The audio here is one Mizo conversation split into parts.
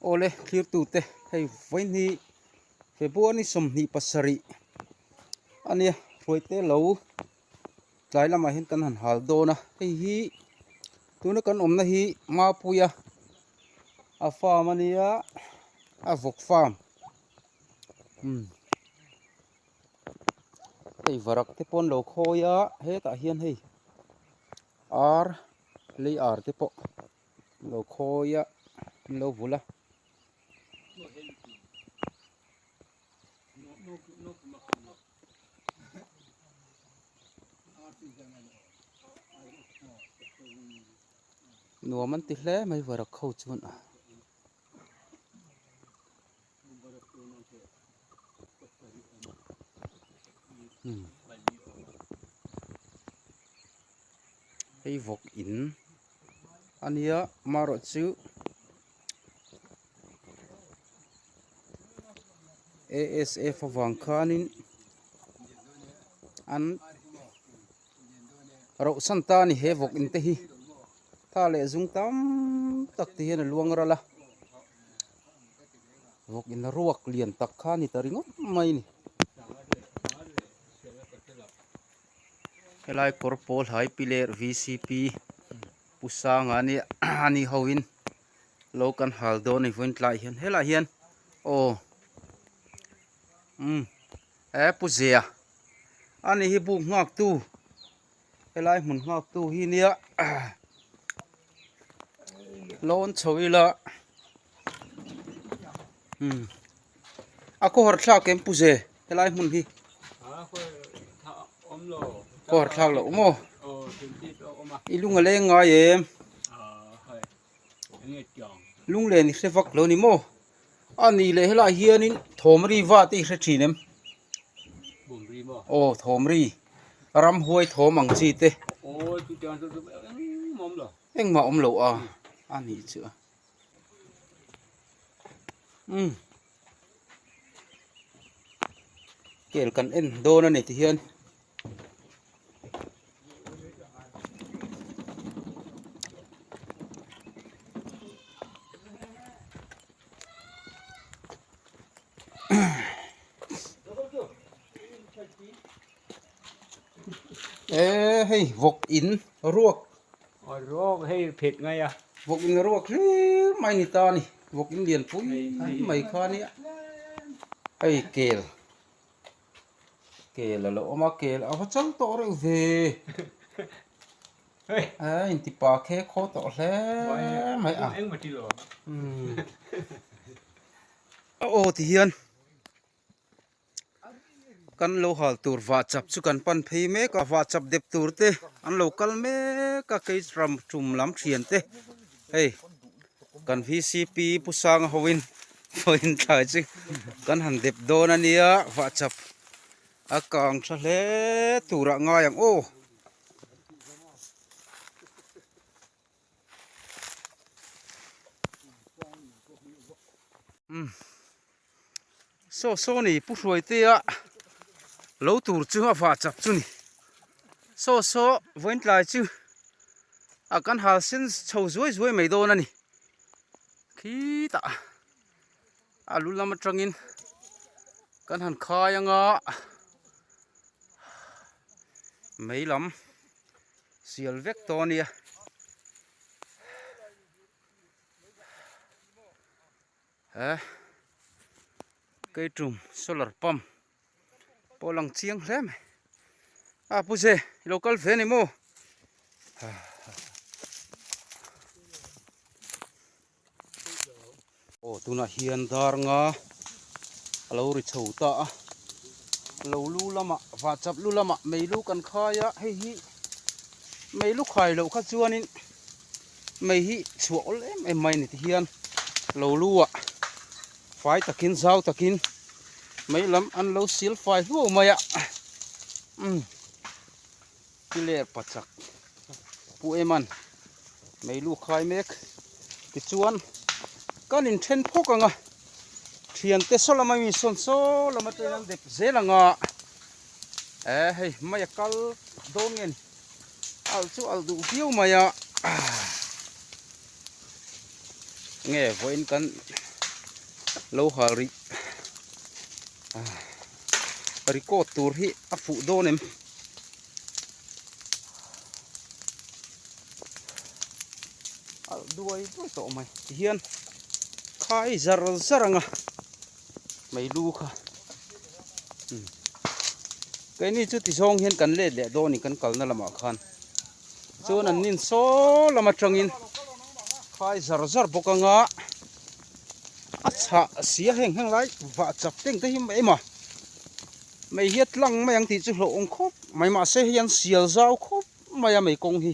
Awle thirtute hei vawiin hi February sawmhnih pasarih a nia ruaite lo tlai lamah hian kan han hal dawn a hei hi tuna kan awmna hi Mapuia a farm a nia a vawk farm. hei varak te pawh an lo khawi a hetah hian hei ar lei ar te pawh an lo khawi a an lo vulh a nuam an ti hle mai varak ho chuan. hei vawk in a nia amaherawh chu asf avang khanin an rauh chhan ta a ni he vawk in te hi tha leh zum tam tak te hian a luang ral a. vawk in ruak lian tak kha a ni ta ringawt mai a ni helai kawr pawl hai pi leh pu sanga a nia a ni ho in lo kan hal dawn a ni vawiin tlaiah hian helaiah hian aw umm he pu ziah a ni hi buk nghak tu. Helai hmun nghak tu hi nia Lawn chho ila hmm. A ko har thlak em puze Helai hmun hi Ko har thlak lo mo Ilung ale ngai em Lung le ni hle vak lo ni mo a nih leh helai hianin thawmri vat i hre thin em aw thawmri ramhuai thawm ang chi te engmah awm loh a a nih chu um kel kan en dawn a ni tihian. ê hei vawk in ruak a ruak hei phet ngai a vawk in a ruak hlim mai a ni ta a ni vawk in lian pui mai khan nia hei kel. Kel alo awm a kel a va chal tawh reuh ve a intipa khe khaw tawh hle mai a a aw ti hian kan lo hal tur vah chap chu kan pan phei mek a vah chap dep tur te an lo kal mek a kei ram tum lam thian te hei. Kan VCP Pu Sanga hoin vawiin thlai chi kan han dep dawn a nia, vah chap a kang tha hle turah ngai ang aw. Saw saw ni pu hruaitea lo tur chu a vah chak chu ni saw saw vawiintlai chu a kan hal sen chho zuai zuai mai dawn a ni khi tah a lu lam atangin kan han khai anga mai lam sial vek tawh a nia. He keiṭum solar pump pawh a lang chiang hle mai a, a pu zia i lo kal ve a ni maw? Aw tunah hian darnga a lo ri chho ta a, lo lu lamah vah chap lu lamah mei lu kan khai a, hei hi mei lu khai loh kha chuanin. mai hi chhuah awlh em em mai ni ti hian lo lu a fai takin zau takin mai lam an lo sil fai hluau mai a um ti ler pa chak pu eman mai lu khai mek ti chuan kan in then phawk anga thian te saw lama mi sawn saw lama ten an dep zel anga eh hei mai a kal dawn nge ni. Al chu al duh viau mai a. Nge vawiin kan lo hal rih a. Record tur hi a fuh dawn em. Al duai duai tawh mai. Tihian khai zar zar ang a. Hmeilu kha um keini chu ti zawng hian kan let leh dawn in kan kalna lamah khan chuan an nin saw lam atangin khai zar zar bawk anga a chhah a sia heng heng lai vah chak teng te hi mai mah mei hi a tlang mai ang tih chu hlauhawm khawp mai mahse hei an sial zau khawp mai a mei kawng hi.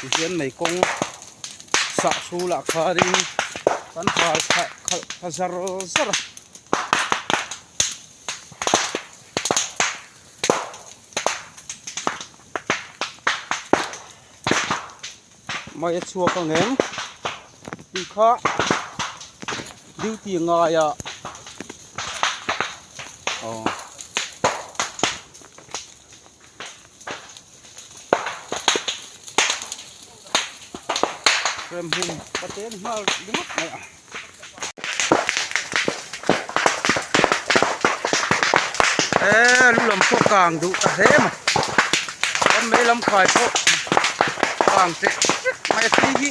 tihian mei kawng sah su lah kharin kan hal khalh khalh kha zar zar a. Mai a chhuak ang em? Tui kha duty a ngai a. Oh. Frame hum paten hmal ringawt mai a. Eeii lu lam pawh kang duh ta hle a ni kan vei lam khai pawh kang teh tep mai a tui hi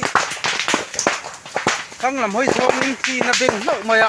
thlang lam hawi zawngin tlin a beng hlauh mai a.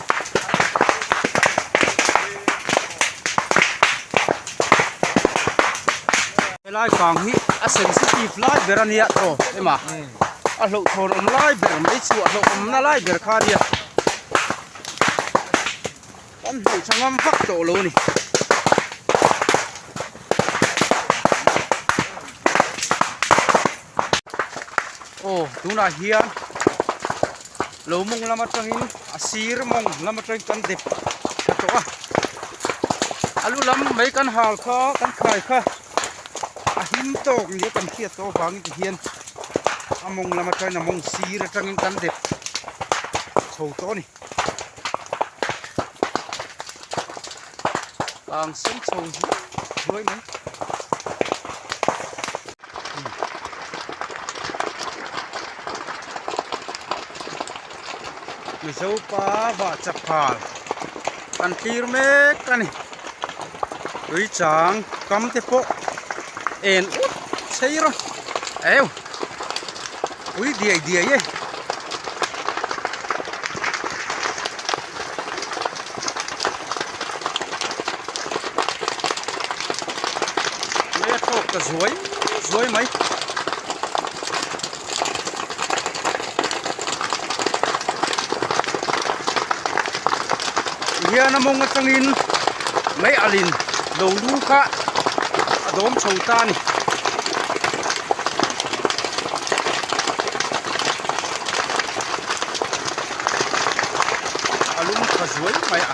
helai fang hi a sensitive lai ber a nia aw ema a hlauhthawn awm lai ber mai chu a hlauhawm nalai ber kha nia kan hnaihṭha ngam vak tawh lo a ni. aw tunah hian. Lo mawng lam atangin a sir mawng lam atangin kan dep ta tawh a, a lu lam mai kan hal kha kan khai kha a him tawk nia kan hriat tawh avangin ti hian a mawng lam atangin a mawng sir atangin kan dep chho tawh a ni. Tlang sei chho hnuai mai. Mizo pa va chaphal kan tlir mek a ni tui chang kam te pawh en ut sei rawh eu. Ui diai diai e. Maya tok ka zuai zuai mai. hian a mawng atangin mai alin lo lu kha a dawm chho ta a ni a lung tha zuai mai a.